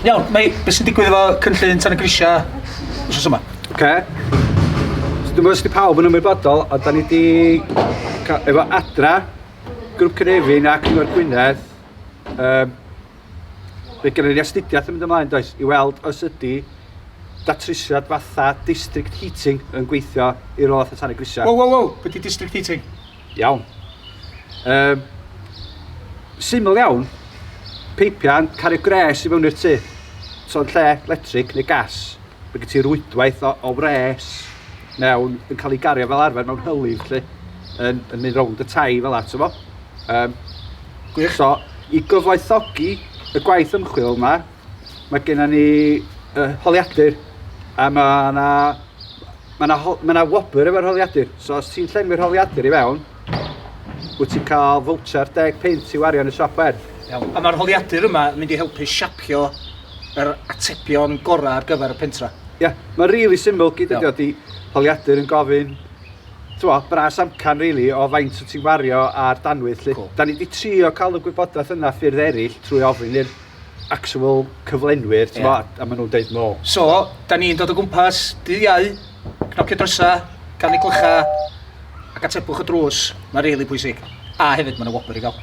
Iawn, mae beth sy'n digwydd efo cynllun tan y grisiau wrth yma? Oce. Okay. So, dwi'n meddwl sydd pawb yn ymwybodol, a da ni wedi efo adra, grwp Cynefin a Cyngor Gwynedd, um, fe gennym ni astudiaeth yn mynd ymlaen does, i weld os ydy datrysiad fatha district heating yn gweithio i'r ôl fatha tan y grisiau. Wow, wow, wow, beth di district heating? Iawn. Um, syml iawn, peipian, cario gres i fewn i'r tŷ. So yn lle electric neu gas, mae gen ti rwydwaith o, o wres mewn yn cael ei gario fel arfer mewn hylif lle, yn, yn mynd rownd y tai fel at efo. Um, gwych. So, i gyfoethogi y gwaith ymchwil yma, Mae gennym ni uh, holiadur a mae yna Mae yna ma na wobr efo'r holiadur, so os ti'n llenwi'r holiadur i fewn, wyt ti'n cael fawcher 10 pint i wario yn y siop werth. Iawn. A mae'r holiadur yma yn mynd i helpu siapio yr atebion gorau ar gyfer y pentra. Ie, yeah, mae'n rili really syml gyd ydi o. Di holiadur yn gofyn Twa, bras amcan really, o faint wyt ti'n wario ar danwydd. Lle, cool. Da ni wedi trio cael y gwybodaeth yna ffyrdd eraill trwy ofyn i'r actual cyflenwyr, ti'n yeah. a maen nhw'n deud no. So, da ni'n dod o gwmpas, dydd iau, cnocio drysa, gan ei glycha, ac atebwch y drws, mae'n rili really pwysig. A hefyd, mae'n y wobr i gael.